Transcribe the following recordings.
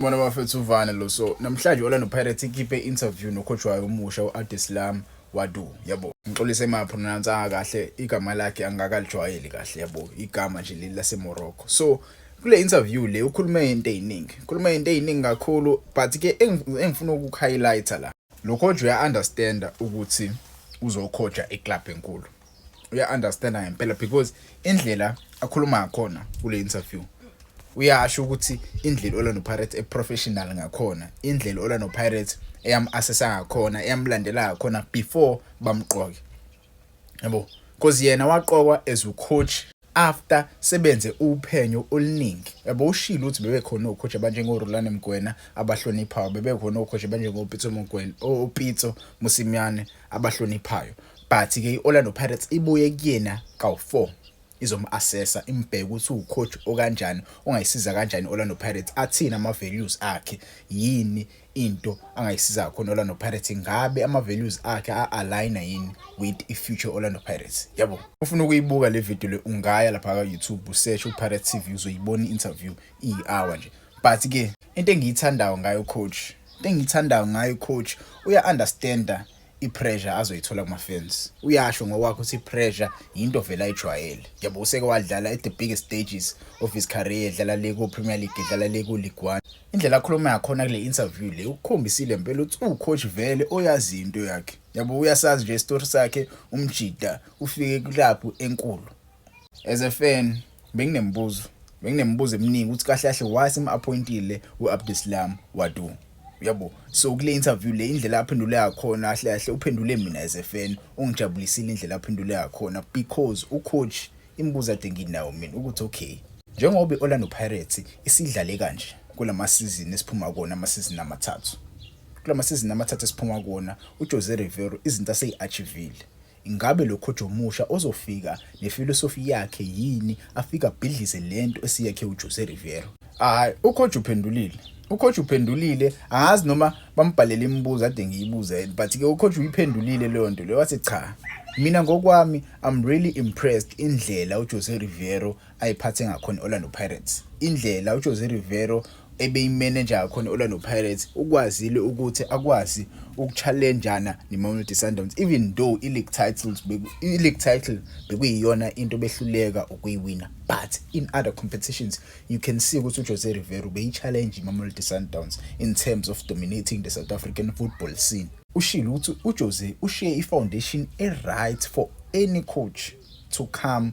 Mona bafethu uvane lo so namhlanje Orlando Pirates ikhiphe interview nocoach wayo omusha uAdeslam Wadu yabo ngixolise ma pronounce kahle igama lakhe angakalijwayeli kahle yabo igama nje leli lase Morocco so kule interview le ukhulume into eziningi ukhulume into eziningi kakhulu but ke engifuna ukuhighlighter la Lokhoja uya-understanda ukuthi uzokhoja iclub enkulu uya-understanda ngempela because indlela akhuluma ngakhona kule interview uyasho ukuthi indlela olano pirates eprofessional ngakhona indlela olano pirates eyam-assessa ngakhona eyamlandela ngakhona before bamqoke yabo because yena waqokwa as ucoach after sebenze uphenyo oluningi yabo ushilo ukuthi bebekhona ocoach abanjengoRulani Mgwena abahloniphayo bebekhona ocoach abanjengopitso Mgwena opitso Musimyane abahloniphayo but ke iOrlando Pirates ibuye kuyena kawu4 izomu-assessa imbheke ukuthi uwucoach okanjani ongayisiza kanjani i-orlando pirates athini ama-values akhe yini into angayisiza kakhona Orlando Pirates ngabe ama values akhe a align yini with i future Orlando Pirates yabo ufuna ukuyibuka le video le ungaya lapha ka YouTube usearch u Pirates TV uzoyibona interview i hour nje but ke into engiyithandayo ngayo coach into engiyithandayo ngayo coach uya understander ipressure azoyithola kuma fans uyasho ngokwakho ukuthi ipressure yinto vele ayijwayele njengoba useke wadlala at the biggest stages of his career edlala le ku Premier League edlala le ku League 1 indlela akhuluma yakhona kule interview le ukukhombisile impela ukuthi ucoach vele oyazi into yakhe yabo uyasazi nje story sakhe umjida ufike kulapho enkulu as a fan benginembuzo benginemibuzo eminingi ukuthi kahle kahle why simu-appointile u-abdislam wadu uyabo so kule interview le indlela aphendule yakhona kahle kahle uphendule mina as a fan ungijabulisile indlela aphendule yakhona because ucoach imibuzo ade nginawo mina ukuthi okay njengoba i-orlando pirates isidlale kanje kula masizini esiphuma kona amasizini amathathu kula masizini amathathu esiphuma kona ujose rivero izinto aseyi-achivile Ingabe lo coach omusha ozofika nefilosofi yakhe yini afika abhidlize lento esiyakhe uJose Riveiro? Hayi, ucoach uphendulile. Ucoach uphendulile, angazi noma bambhalele imibuzo ade ngiyibuze but ke ucoach uyiphendulile leyo nto leyo wathi cha. Mina ngokwami I'm really impressed indlela uJose Riveiro ayiphathe ngakhona i-orlando pirates indlela ujose rivero ebeyimeneja ngakhona i-orlando pirates ukwazile ukuthi akwazi ukuchallenjana ne-mamelodi sundowns even though i-league titles i-league title bekuyiyona into behluleka ukuyiwina but in other competitions you can see ukuthi ujose rivero beyi-challenge i-mamelodi sundowns in terms of dominating the south african football scene ushile ukuthi ujose ushiye i-foundation e-right for any coach to come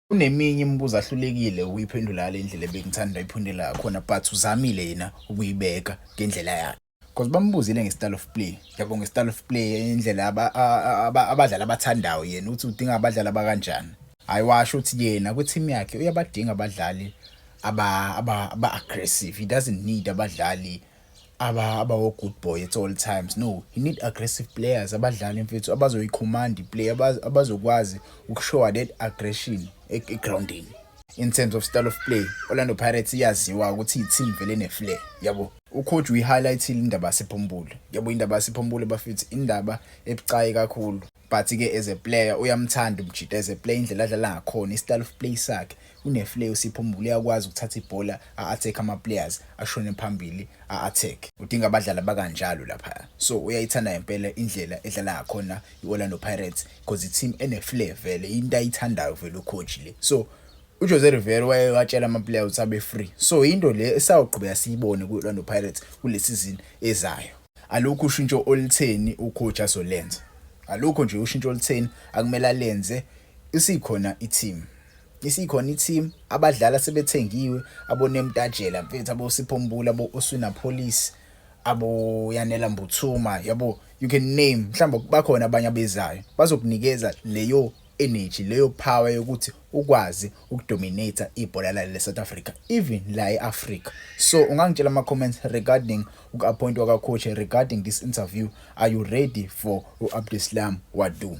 kuneminye imibuzo ahlulekile ukuyiphendula ngale ndlela ebengithanda ayiphundela khona but uzamile yena ukuyibeka ngendlela yakhe because bambuzile nge-style of play yabo nge-style of play indlela abadlali abathandayo yena ukuthi udinga abadlali abakanjani hhayi washo ukuthi yena kwithimu yakhe uyabadinga abadlali aba-aggressive he doesn't need abadlali aba abawo good boy at all times no he need aggressive players abadlali mfethu abazoyicommand iplay abazokwazi ukushowa that aggression egroundini in terms of style of play Orlando Pirates iyaziwa ukuthi i-team vele ne-flair yabo ucoach uyi-highlightile indaba yasephombule yabo indaba yasephombule bafethu indaba ebucayi kakhulu but ke as a player uyamthanda umjita as a player indlela adlala ngakhona istyle of play sakhe uneflay usipho mbulu uyakwazi ukuthatha ibhola a-attack ama-players ashone phambili a-attack udinga abadlali abakanjalo lapha so uyayithanda ngempela indlela edlala ngakhona i-orlando pirates because i-team eneflay vele into ayithandayo vele ucoach le so uJose Rivera waye watshela ama-player ukuthi abe free so into le esawuqhubeka siyibone kwi-orlando pirates kule sizini ezayo Alukho ushintsho olutheni ucoach azolenza. Alukho nje ushintsho olutheni akumele alenze isikhona i-team. Isikhona i-team abadlali asebethengiwe abonemtajela mfethu abosipho mbula bo-oswina police aboyanela mbuthuma yabo you can name mhlawumbe bakhona abanye abezayo bazokunikeza leyo energy leyo power yokuthi ukwazi ukudominate ibhola la le South Africa even la eAfrica so ungangitshela ama comments regarding ukuappointwa ka coach regarding this interview are you ready for uAbdeslam Wadu